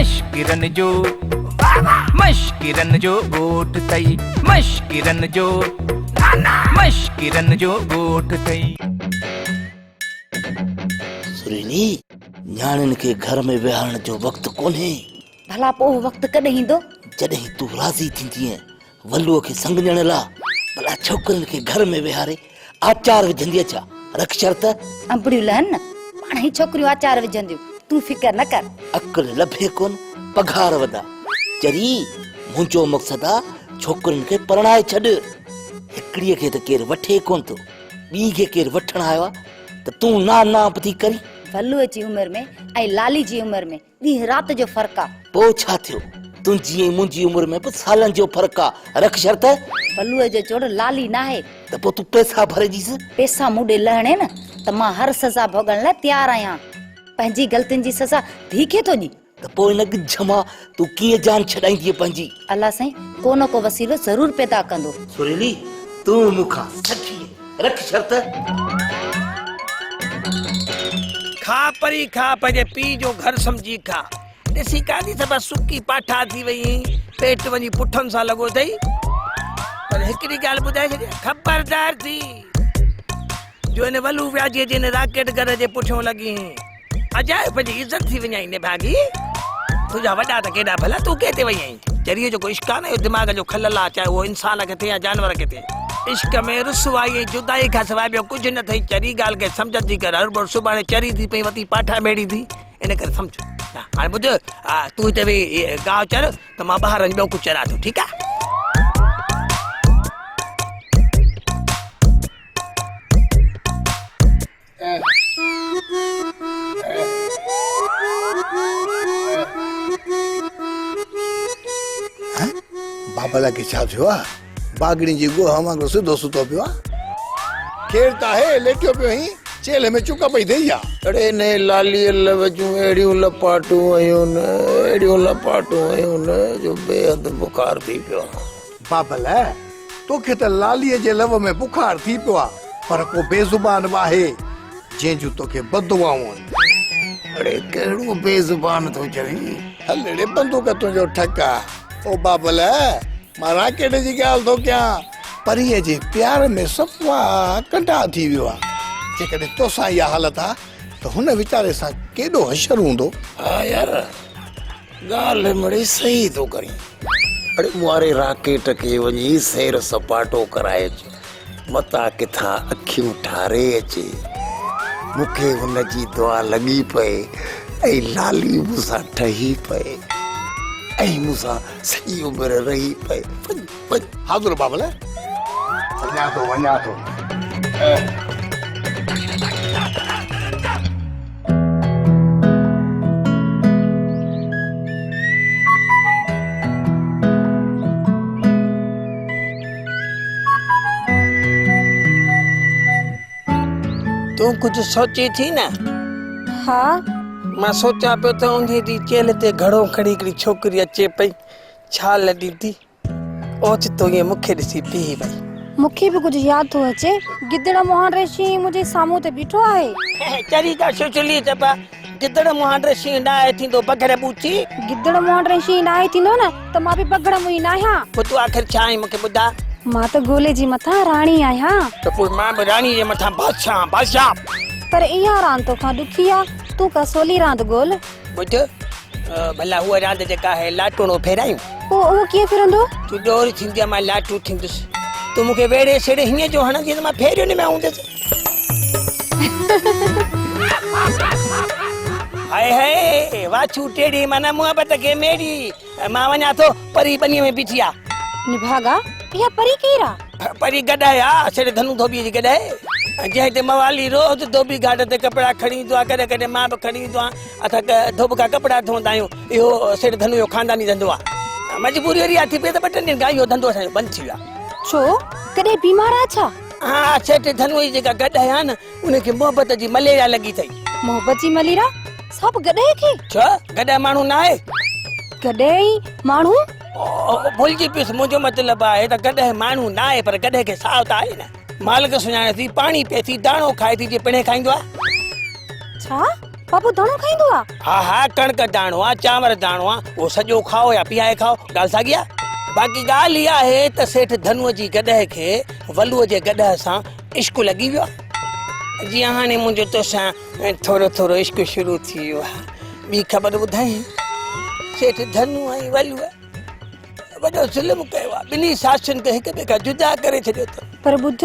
مشڪرن جو مشڪرن جو ڳوٺ ٿئي مشڪرن جو مشڪرن جو ڳوٺ ٿئي سريني نياڻين کي گهر ۾ ويهارڻ جو وقت ڪونهي ڀلا پوء وقت ڪڏهن ايندو جڏهن تون راضي ٿيندينء ولوء کي سنگ ڏيڻ لا ڀلا ڇوڪرين کي گهر ۾ ويهاري آچار وجهندي اڇا رک شرط. انبڙيون لهن نه پاڻ هي ڇوڪريون آچار وجهنديون تون فڪر نه ڪر. عقل لڀي ڪون پگهار وڏا چري منهنجو مقصد آ ڇوڪرين کي پرڻائي ڇڏ هڪڙي کي ته ڪير وٺي ڪون ٿو ٻي کي ڪير وٺڻ آيو آ ته تون نا نانپ ٿي ڪرين. ولوء جي عمر ۾ ۽ لالي جي عمر ۾ ڏينهن رات جو فرق آ. پوء ڇا ٿيو؟ تنهنجي ۽ منهنجي عمر ۾ به سالن جو فرق آ. رک شرط. بلوء جو چڙ لالي ناهي. ته پوء تون پئسا ڀري ڏيس. پئسا مون ڏي لهڻين ته مان هر سزا ڀوڳڻ لاء تيار آهيان. پنهنجي غلطين جي سزا ڌيء کي ٿو ڏين. ته پوء ان ڳجهه مان تون ڪيئن جان ڇڏائيندينء پنهنجي؟ الله سائين ڪو نه ڪو وسيلو ضرور پيدا ڪندو. سريلي تون مون کان سٺيء. رک شرط. کاء پري کاء پنهنجي پيء جو گهر سمجهي کاء. ڏسي ڪاڌي ته بس سڪي پاٺا ٿي وئي هئين. پيٽ وڃي پٺن سان لڳو اٿئي. پر هڪڙي ڳالهه ٻڌائي ڇڏيان. خبردار ٿي جو هن ولو وياجي جي هن راڪيٽ گهر جي پٺيون لڳي هئين. اجائي پنهنجي عزت ٿي وڃائين نڀاڳي تنهنجا وڏا ته ڪيڏا ڀلا تون ڪنهن تي وئي آهين چريو جيڪو عشق آهي نه اهو دماغ جو خلل آهي چاهي اهو انسان کي ٿئي يا جانور کي ٿئي عشق ۾ رسوائي ۽ جدائي کان سواء ٻيو ڪجهه نه اٿئي چري ڳالهه کي سمجهه ٿي ڪر هر ڀور سڀاڻي چري ٿي پئي وتي پاٺا ميڙي ٿي ان ڪري سمجهه هاڻي ٻڌ تون هتي ويهي گاهه چر ته مان ٻاهر وڃي ٻيو ڪجهه چران ٿو ٺيڪ آهي بابل کي ڇا ٿيو آ باگڙين جي گوهه وانگر سڌو ستو پيو آ کير ته آهي ليٽيو پيو هين چيلهه ۾ چڪ پئي ٿئي آ اڙي ني لالي لوجون اهڙيون لپاٽون هيون نه اهڙيون لپاٽون هيون نه جو بي حد بخار ٿي پيو آ بابل، توکي ته لاليء جي لو ۾ بخار ٿي پيو آ، پر ڪو بي زبان به آهي، جنهن جون توکي بددعائون آهن. اڙي ڪهڙو بي زبان ٿو چوين؟ هل اڙي بندوق تنهنجو ٺڪ آ. او بابل، مان راڪيٽ جي ڳالهه ٿو ڪيان. پريء جي پيار ۾ صفا ڪنڊا ٿي ويو آ. جيڪڏهن توسان اها حالت آ ته هن ويچاري سان ڪيڏو حشر هوندو. ها يار! ڳالهه مڙئي صحيح ٿو ڪرين. اڙي مارئي راڪيٽ کي وڃي سير سپاٽو ڪرائي اچ. متان ڪٿان اکيون ٺاري اچي. مون کي هن جي دعا لڳي پئي ۽ لالي مون سان ٺهي پئي ۽ مون سان سڄي عمر رهي پئي. وڃ حاضر بابل وڃان ٿو وڃان ٿو تون ڪجهه سوچي ٿي نه ها مان سوچان پيو ته انهي ڏينهن چيلهه تي گهڙو کڻي هڪڙي ڇوڪري اچي پئي ڇا لڏي ٿي اوچتو ائين مون کي ڏسي بيهي وئي. مون کي به ڪجهه ياد ٿو اچي. گدڙ مهان ڙي شينهن منهنجي سامهون ته بيٺو آهي. چري جا ڇڇلي چبا. گدڙ مهان ڙي شينهن ناهي ٿيندو بگهڙ ٻوچي. گدڙ مهان ڙي شينهن ناهي ٿيندو نه ته مان به بگهڙ منهين ناهيان. پوء تون آخر ڇا آهين مون کي ٻڌاء. مان ته گولي جي مٿان راڻي آهيان. ته پوء مان به راڻي جي مٿان بادشاهه آهيان بادشاهه. پر اها راند توکان ڏکي آ. تون ڪا سولي راند ڳول. ٻڌ ڀلا هوء راند جيڪا آهي لاٽوڻو ڦيرايون. پوء اهو ڪيئن ڦرندو؟ تون ڏور ٿيندي ۽ مان لاٽو ٿيندس. تون مون کي ويڙهي سيڙهي هيئن جو هڻندينء ته مان ڦيريون ۾ هوندس. هائي هائي! واڇو ٽيڙي معنيٰ محبت کي ميڙي. مان وڃان ٿو پري ٻنيء ۾ بيٺي آ. نڀاڳا اها پري ڪير آ؟ پري گڏاهي آ، سيٺ ڌنو ڌوٻيء جي گڏاهي، جنهن هتي موالي روز ڌوٻي گهاٽ تي ڪپڙا کڻي ايندو آ، ڪڏهن ڪڏهن مان به کڻي ايندو آهيان. اسان ڌوٻڪا ڪپڙا ڌوندا آهيون. اهو سيٺ ڌنوء جو خانداني ڌنڌو آ. مجبوري اهڙي آ ٿي پئي ته ٻه ٽن ڏينهن کان اهو ڌنڌو اسان جو بند ٿي ويو آ. ڇو، ڪڏهن بيمار آ ڇا؟ اها سيٺ ڌنوء جي جيڪا گڏاهي آ نه، ان کي محبت جي مليريا لڳي اٿئي. محبت جي مليريا؟ سا به گڏهه کي؟ ڇا گڏهه ماڻهو ناهي؟ گڏهه ئي ماڻهو؟ ڀلجي پيس، منهنجو مطلب آهي ته گڏهه ماڻهو ناهي پر گڏهه کي ساهه ته آهي نه. مالڪ سڃاڻي ٿي، پاڻي پئي ٿي، داڻو کائي ٿي جي پڻهي کائيندو آ. ڇا؟ بابو داڻو کائيندو آ؟ ها ها، ڪڻڪ داڻو آ، چانور داڻو آ، اهو سڄو کائو يا پيهائي کائو، ڳالهه ساڳي آ. باقي ڳالهه اها آهي ته سيٺ ڌنوء جي گڏهه کي ولوء جي گڏهه سان عشق لڳي ويو آهي جيئن هاڻي منهنجو توسان ٿورو ٿورو عشق شروع ٿي ويو آهي ٻي خبر ٻڌايئين سيٺ ڌنو ۽ ولوء وڏو ظلم ڪيو آهي ٻنهي ساسين کي هڪ ٻئي کان جدا ڪري ڇڏيو اٿن پر ٻڌ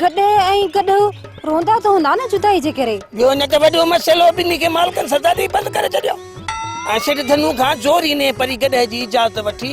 گڏهه ۽ گڏهه روندا ته هوندا نه جدائي جي ڪري ٻيو نه ته وڏو مسئلو ٻنهي کي مالڪن سزا ڏئي بند ڪري ڇڏيو ۽ سيٺ ڌنو کان زوري نيهه پري گڏهه جي اجازت وٺي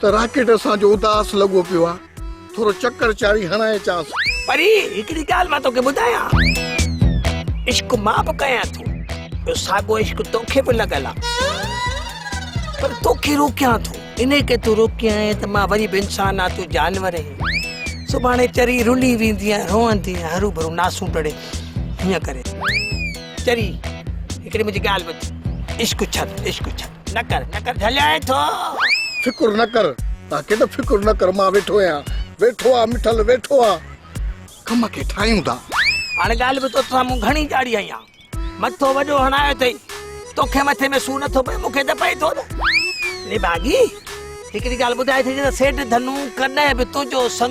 ته راڪيٽ اسان جو اداس لڳو پيو آ ٿورو چڪر چاري هڻائي چاس. پري هڪڙي ڳالهه مان توکي ٻڌايان عشق مان به ڪيان ٿو ٻيو ساڳو عشق توکي به لڳل آ پر توکي روڪيان ٿو انهي ڪري تون روڪي آئين ته مان وري به انسان آ تون جانور آهين سڀاڻي چري رلي ويندي ۽ روئندي ۽ هرو ڀرو ناسون ٽڙي هيئن ڪري چري هڪڙي منهنجي ڳالهه ٻڌ عشق ڇڏ عشق ڇڏ. نه ڪر نه ڪر جهليائين ٿو. فڪر نه ڪر ته ڪيڏو فڪر نه ڪر مان ويٺو آهيان ويٺو آ مٺل ويٺو آ ڪم کي ٺاهيون ٿا. هاڻي ڳالهه ٻڌ توسان مون گهڻي ڄاڙي هنئي آ مٿو وڏو هڻايو اٿئي توکي مٿي ۾ سور نٿو پئي مونکي ته پئي ٿو نه نڀاڳي هڪڙي ڳالهه ٻڌايٿي ته سيٺ ڌنو ڪڏهن به تنهنجو سڱ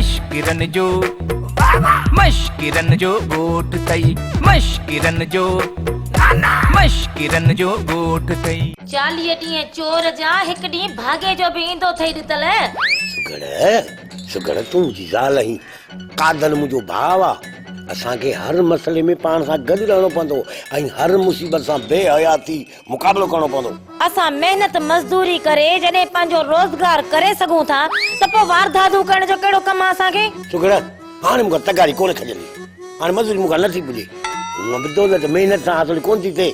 مشڪرن جو مشڪرن جو ڳوٺ ٿئي مشڪرن جو مشڪرن جو ڳوٺ ٿئي. چاليهه ڏينهن چور جا هڪ ڏينهن ڀاڳي جو به ايندو ٿئي ڏتل. سگهڙ سگهڙ تون منهنجي زال آهين قادر منهنجو ڀاء آ اسان کي هر مسئلي ۾ پاڻ سان گڏ رهڻو پوندو ۽ هر مصيبت سان بي حياتي مقابلو ڪرڻو پوندو. اسان محنت مزدوري ڪري جڏهن پنهنجو روزگار ڪري سگهون ٿا ته پوء واردادون ڪرڻ جو ڪهڙو ڪم آ اسان کي؟ سگهڙا، هاڻ مون کان تغاري ڪونه کڄندي. هاڻ مزوري مون کان نه ٿي پڄي. هونء به دولت محنت سان حاصل ڪونه ٿي ٿئي.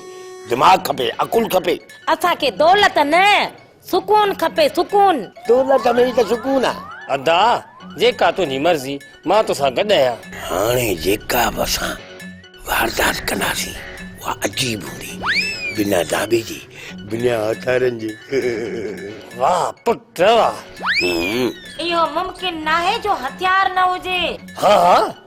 دماغ کپي، عقل کپي. اسان کي دولت نه، سڪون کپي سڪون. تون لڳ ۾ ئي ته سڪون آ. ادا جيڪا تنهنجي مرضي مان توسان گڏ آهيان. هاڻي جيڪا به اسان واردات ڪنداسين اها عجيب هوندي بنا داٻي جي بنا هٿيارن جي. واهه پٽ واهه. اهو ممڪن ناهي جو هٿيار نه هجي. ها ها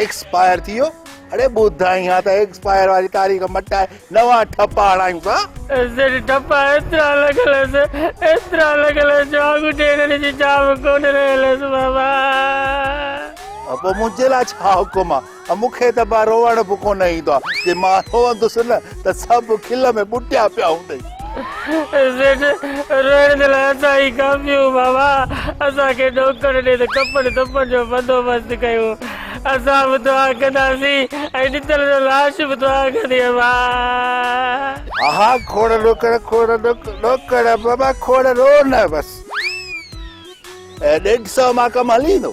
ايڪسپائر ٿي ويو اڙي ٻڌائين ها ته ايڪسپائر واري تاريخ مٽائي نوان ٺپا هڻايون ها. جڏهن ٺپا ايترا لڳل هيس ايترا لڳل هيس جو آڱٺي هڻڻ جي جاء به ڪونه رهيل هيس بابا. پوء منهنجي لاء ڇا حڪم آ. مون کي ته ڀا روئڻ به ڪونه ايندو آ. جي مان روئندس نه ته سڀ کل ۾ ٻٽيا پيا هوندئي. سيٺ، روئڻ جي لاء اسان ئي ڪافي هون بابا. اسان کي نوڪر ڏي ته ڪفن ڪفن جو بندوبست ڪيون. اسان به دعا ڪنداسين ۽ ڏتل جو لاش به دعا ڪندي بابا. ها ها کوڙ نوڪر کوڙ نوڪر بابا کوڙ رون بس. ڏيڍ سئو مان ڪم هلي ويندو.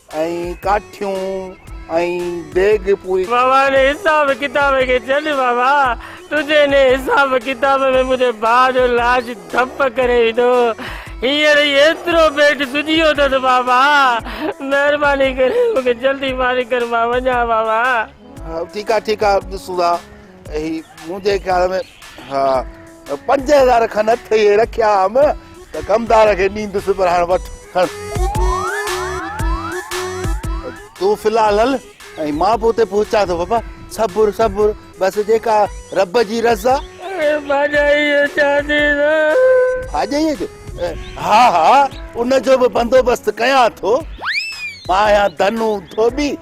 ۽ ڪاٺيون ۽ ديڳ پوري. بابا انهي حساب ڪتاب کي ڇڏ بابا تنهنجي انهي حساب ڪتاب ۾ منهنجي ڀاء جو لاش ڌپ ڪري ويندو هينئر ئي ايترو پيٽ سجيو اٿس بابا مهرباني ڪري مون کي جلدي فارغ ڪر مان وڃان بابا. ٺيڪ آ ٺيڪ آ ڏسون ٿا. هي منهنجي خيال ۾ ها پنج هزار کن اٿئي رکيا هم ته ڪمدار کي ڏيندس پر هاڻ وٺ کڻ تون في الحال هل ۽ مان به اتي پهچان ٿو بابا صبر صبر بس جيڪا رب جي رضا ڀاڄائيء جو چان ٿي نه ڀاڄائيء جو ها ها ان جو به بندوبست ڪيان ٿو مان آهيان ڌنو ڌوٻي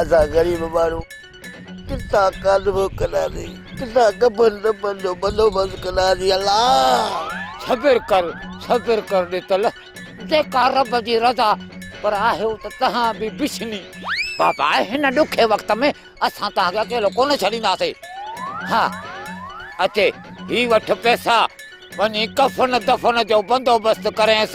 اسان غريب ماڻهو ڪٿان ڪاڌو ڪنداسين، ڪٿان ڪفن دفن جو بندوبست ڪنداسين الله! صبر ڪر صبر ڪر ڏتل جيڪا رب جي رضا پر آهيو ته تهان به بڇني. بابا هن ڏکي وقت ۾ اسان تهان کي اڪيلو ڪونه ڇڏينداسي ها اچي هي وٺ پيسا وڃي ڪفن دفن جو بندوبست ڪرينس.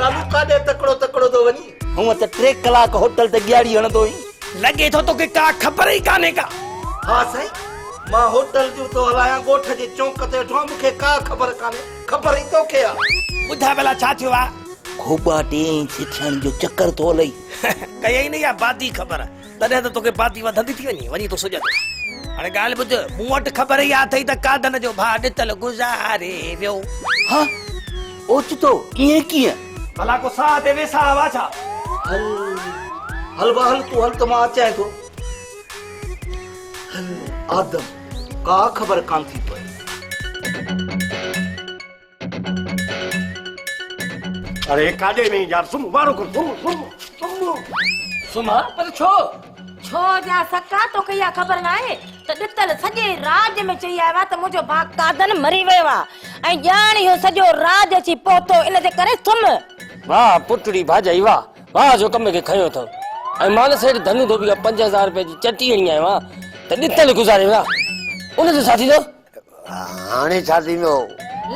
رامو ڪاڏي تڪڙو تڪڙو ٿو وڃين. هونء ته ٽي ڪلاڪ هوٽل تي ڏياڙي هڻندو هئين. لڳي ٿو توکي ڪا خبر ئي ڪانهي ڪا. ها سائين مان هوٽل جون ٿو هلايان ڳوٺ جي چونڪ تي ويٺو آهيان مون کي ڪا خبر ڪانهي خبر ئي توکي آ. ٻڌاء ڀلا ڇا ٿيو آ. خوٻا ٽي انچ ٿيڻ جو چڪر ٿو هلئي. ڪيئي نه اها بادي خبر تڏهن ته توکي پاتي وڌندي ٿي وڃي، وڃي تون سجهندو. هاڻي ڳالهه ٻڌ، مون وٽ خبر ئي اها اٿئي ته قاڌن جو ڀاء ڏتل گذاري ويو. هه! اوچتو ائين ڪيئن؟ ڀلا ڪو ساهه تي ويساهه هئا ڇا؟ هل، هل ڀاء هل، تون هل ته مان اچانء ٿو. هل، آدم، ڪا خبر ڪانه ٿي پوي. اري ڪاڏي وئين يار سم وارو کول سم سم سم سم پر ڇو ڇو جا سڪا تو کي يا خبر نه آهي ته ڏتل سڄي راڄ ۾ چئي آيو آ ته منهنجو ڀاء قادن مري ويو آ ۽ ڄاڻ اهو سڄو راڄ اچي پهتو ان جي ڪري سم واه پٽڙي ڀاڄائي واه واه جو ڪم کي کنيو اٿو ۽ مان نه سيٺ ڌنو ڌوٻي کان پنج هزار روپيه جي چٽي هڻي آيو آ ته ڏتل گذاري ويا ان جو ڇا ٿيندو هاڻي ڇا ٿيندو؟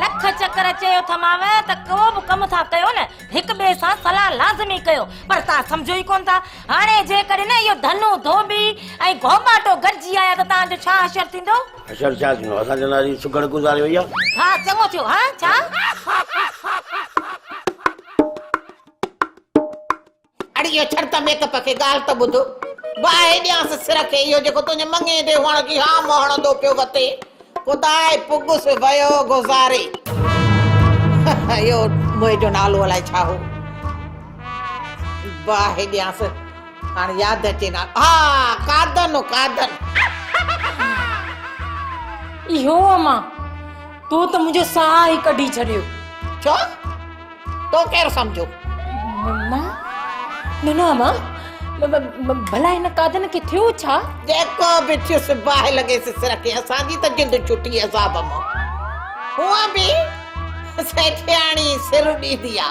لک چڪر چيو ٿا مانء ته ڪو به ڪم ٿا ڪيو نه هڪ ٻئي سان صلاح لازمي ڪيو پر تان سمجهو ئي ڪونه ٿا هاڻي جيڪڏهن اهو ڌنو ڌوٻي ۽ گهوٻاٽو گڏجي آيا ته تان جو ڇا حشر ٿيندو؟ حشر ڇا ٿيندو اسان چونداسين سگهڙ گذاري وئي آهي. ها چڱو ٿيو ها ڇا؟ اڙيء ڇڙت ميڪپ کي ڳالهه ته ٻڌ. باهه ڏيانس سر کي اهو جيڪو تنهنجي مڱي تي هئڻ جي هام هڻندو پيو وتي. خداء پڳس ويو گذاري. اهو موئي جو نالو الائي ڇا هو. باهه ڏيانس هاڻ ياد اچي نالو. ها قادن هو قادن. اهو امان! تو ته منهنجو ساهه ئي ڪڍي ڇڏيو. ڇو؟ تو ڪير سمجهيو؟ مان؟ نه نه امان ڀلا هن قادن کي ٿيو ڇا؟ جيڪو به ٿيس باهه لڳيس سر کي اسان جي ته جند ڇٽي عذاب مان هونء به سيٺياڻي سر ڏيندي آ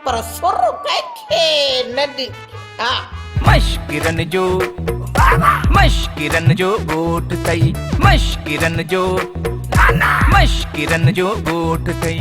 پر سر ڪنهن کي نه ڏي ها مشڪرن جو مشڪرن جو ڳوٺ ٿئي مشڪرن جو مشڪرن جو ڳوٺ ٿئي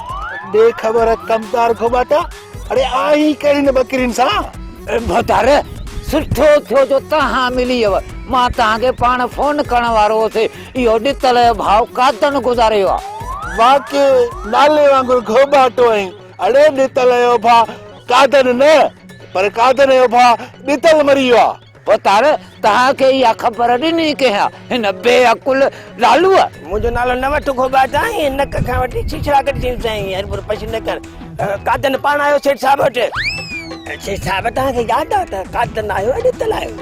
ڏي خبر ڪمتار کوٻاٽا اڙي آهين ڪهڙي نه ٻڪرين سان ڀتار سٺو ٿيو جو توهان ملي ويو مان توهان کي پاڻ فون ڪرڻ وارو هوس اهو ڏتل ڀاء قاتن گذاري ويو آهي واقعي نالي وانگر کوٻاٽو آهين اڙي ڏتل جو ڀاء قاتن نه پر قاتن جو ڀاء ڏتل مري ويو آهي وتار، توهان کي اها خبر ڏني ڪنهن، هن بي عقل لالوء؟ منهنجو نالو نه وٺ گوبا جان، ۽ نڪ کان وٺي ڇيڇرا ڪڍي ڇڏيندو سان، ائين هربور پشي نه ڪر. قادن پاڻ آيو سيٺ صاحب وٽ. سيٺ صاحب توهان کي ياد آهي ته قادن آيو اڄ اتل آيو.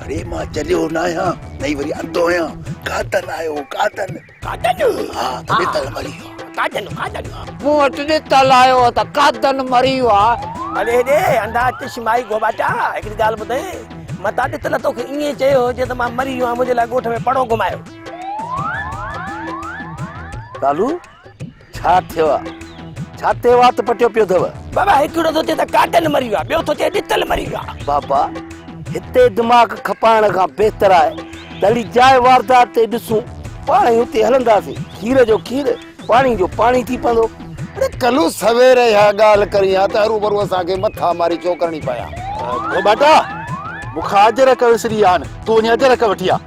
اڙي مان چليو نه آهيان نه ئي وري اندو آهيان، قادن آيو قادن. قادن! ها، ته ڏتل مري ويو آ. قادن! قادن! مون وٽ ڏتل آيو ته قادن مري ويو آ. هلي هيڏي، انڌا چشم آهي گوباٽا! هڪڙي ڳالهه ٻڌئين، متان ڏتل توکي ائين چيو هجي ته مان مري ويو آهيان، منهنجي لاء ڳوٺ ۾ پڙو گهمايو. ڪالو! ڇا ٿيو آ ڇا تي وات پٽيو پيو اٿو. بابا هڪڙو ٿو چئي ته ڪاٽن مري ويو آ ٻيو ٿو چئي ڏتل مري ويو آ. بابا هتي دماغ کپائڻ کان بهتر آهي ته هلي جاء واردات تي ڏسون پاڻ ئي اتي هلنداسين کير جو کير پاڻي جو پاڻي ٿي پوندو. اڙي ڪلو سوير اها ڳالهه ڪرين ها ته هروڀرو اسان کي مٿا ماري ڇو ڪرڻي پئي ها. ڀوٻاٽا مون کان اجرڪ وسري ويا آهن تون وڃي اجرڪ وٺي آ.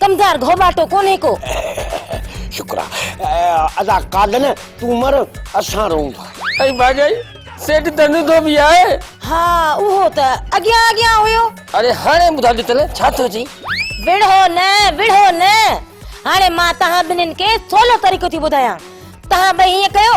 ڪمدار گهوٻاٽو ڪونهي ڪو. شڪر آ ادا قادن تون مر اسان رئون ٿا. ۽ ڀاڄائي سيٺ ڌنڌو ڌوٻي آهي. ها اهو ته اڳيان اڳيان هيو. اڙي هاڻي ٻڌاء ڏتل ڇا ٿيو چئي. وڙهو نه وڙهو نه هاڻي مان توهان ٻنهين کي سولو طريقو ٿي ٻڌايان توهان ٻئي هيئن ڪيو.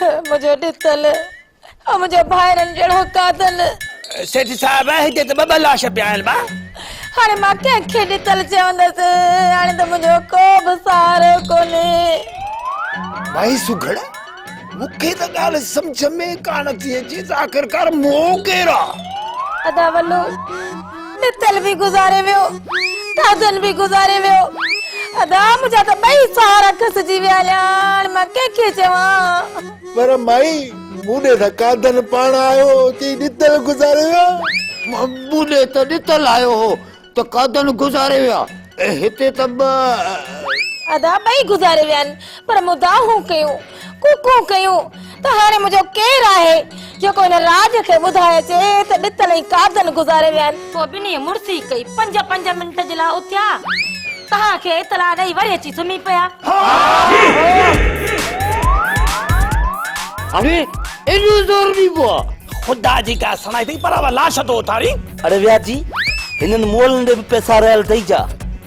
منهنجو ڏتل ۽ منهنجا ڀائرن جهڙو قاتل. سيٺ صاحب هتي ته ٻه ٻه لاش پيا آهن ڀا. هاڻي مان ڪنهن کي ڏتل چوندس. هاڻي ته منهنجو ڪو به سهارو ڪونهي. ڀائي سگهڙ مون کي ته ڳالهه سمجهه ۾ ڪانه ٿي اچي ته آخرڪار مون ڪير آ. ادا ولو متل به گذاري ويو، ڪازن به گذاري ويو، ادا منهنجا ته ٻئي سهارا کسجي ويا، هليا هاڻ مان ڪنهن کي چوان. پر مائي مون ڏي ته ڪازن پاڻ آيو هو چئي ڏتل گذاري ويا. مون ڏي ته ڏتل آيو هو ته ڪازن گذاري ويا ۽ هتي ته ٻه. ادا ٻئي گذاري ويا آهن پر مون دانهون ڪيون. ڪون ڪون ڪيون ته هاڻي منهنجو ڪير آهي جيڪو هن راڄ کي ٻڌائي اچي ته ڏتل ۽ قابضن گذاري ويا آهن. پوء ٻنهي مڙسي ڪئي پنج پنج منٽ جي لاء اٿيا تهان کي اطلاع ڏئي وري اچي سمهي پيا. اڙي ايڏو زور به پوء. خدا جي قسم سڻائي اٿئي پر لاش ٿو اٿارين. اڙي وياچي هنن مئل ڏي به پئسا رهيل اٿئي ڇا.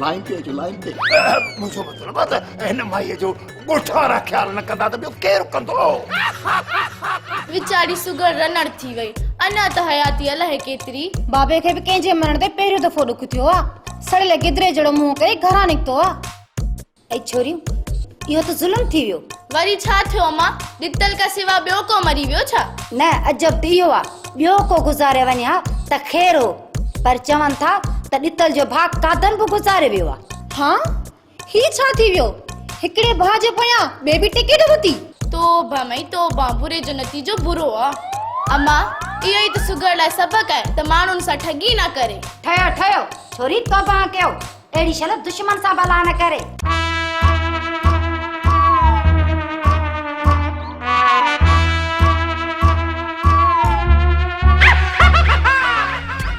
لائين تي اچو لائين تي منهنجو مطلب آ ته هن مائيء جو ڳوٺ وارا خيال نه ڪندا ته ٻيو ڪير ڪندو ويچاري سگهڙ رنڙ ٿي وئي اڃا ته حياتي الاهي ڪيتري بابي کي به ڪنهن جي مرڻ تي پهريون دفعو ڏک ٿيو آ سڙيل گدري جهڙو منهن ڪري گهران نڪتو آ اي ڇوريون اهو ته ظلم ٿي ويو. وري ڇا ٿيو اما ڏتل کان سوا ٻيو ڪو مري ويو ڇا؟ نه عجب ته اهو آ ٻيو ڪو گذاري وڃي ها ته خير هو پر چون ٿا ته ڏتل جو ڀاء قادر به گذاري ويو آ. ها هي ڇا ٿي ويو هڪڙي ڀاء جي پويان ٻي به ٽڪيٽ ورتي. توبه مئي توبه بري جو نتيجو برو آ. اما اهو ئي ته سگهڙ لاء سبق آهي ته ماڻهن سان ٺڳي نه ڪري. ٺهيو ٺهيو ڇوري توبه ها ڪيو. اهڙي شل دشمن سان به الله نه ڪري.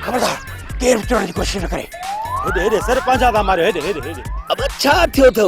خبردار ڪير به چڙهڻ جي ڪوشش نه ڪري. هيڏي هيڏي سر پنهنجا ٿا ماريو هيڏي هيڏي هيڏي. ابا ڇا ٿيو اٿو.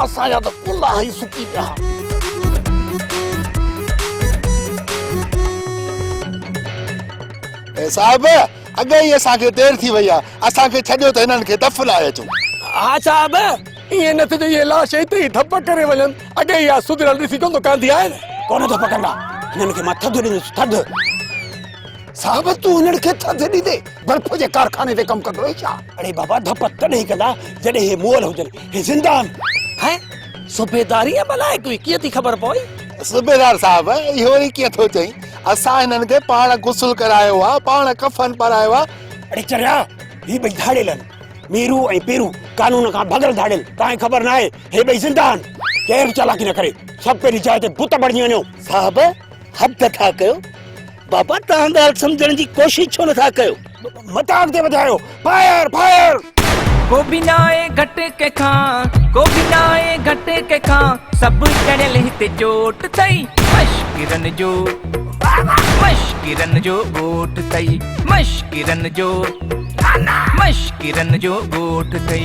اسان جا ته ڪلها ئي سڪي پيا. اي صاحب اڳي ئي اسان کي دير ٿي وئي آ اسان کي ڇڏيو ته هنن کي دف لائي اچون. ها صاحب ائين نه ٿيندو اهي لاش اتي ئي ڌپ ڪري وڃن اڳي ئي آ سڌريل ڏسي ڪونه ٿو ڪانڌي آهي نه. ڪونه ڌپ ڪندا هنن کي مان ٿڌ ڏيندس ٿڌ. صاحب تون هنن کي ٿڌ ڏيندين برف جي ڪارخاني تي ڪم ڪندو آهين ڇا. اڙي بابا ڌپ تڏهن ڪندا جڏهن اهي مئل هجن. هي زنده آهن. هيء صوبيداري ۽ بلا هڪ هئي، ڪيئن ٿي خبر پوي؟ صوبيدار صاحب، اهو وري ڪيئن ٿو چئين؟ اسان هنن کي پاڻ غسل ڪرايو آهي، پاڻ ڪفن پارايو آهي. اڙي چريا، هي ٻئي ڌاڙيل آهن. ميرو ۽ پيرو قانون کان ڀڳل ڌاڙيل، توهان کي خبر ناهي، هي ٻئي زنده آهن. ڪير به چالاڪي نه ڪري. سڀ پنهنجي جاء تي بت بڻجي وڃو. صاحب، حد ٿا ڪيو. بابا توهان ڳالهه سمجهڻ جي ڪوشش ڇو نٿا ڪيو. متان اڳتي وڌايو فائر فائر. ڪو به ناهي گهٽ ڪنهن کان ڪو به ناهي گهٽ ڪنهن کان سڀ چڙهيل هتي چوٽ اٿئي مشڪرن جو مشڪرن جو ڳوٺ اٿئي مشڪرن جو مشڪرن جو ڳوٺ اٿئي.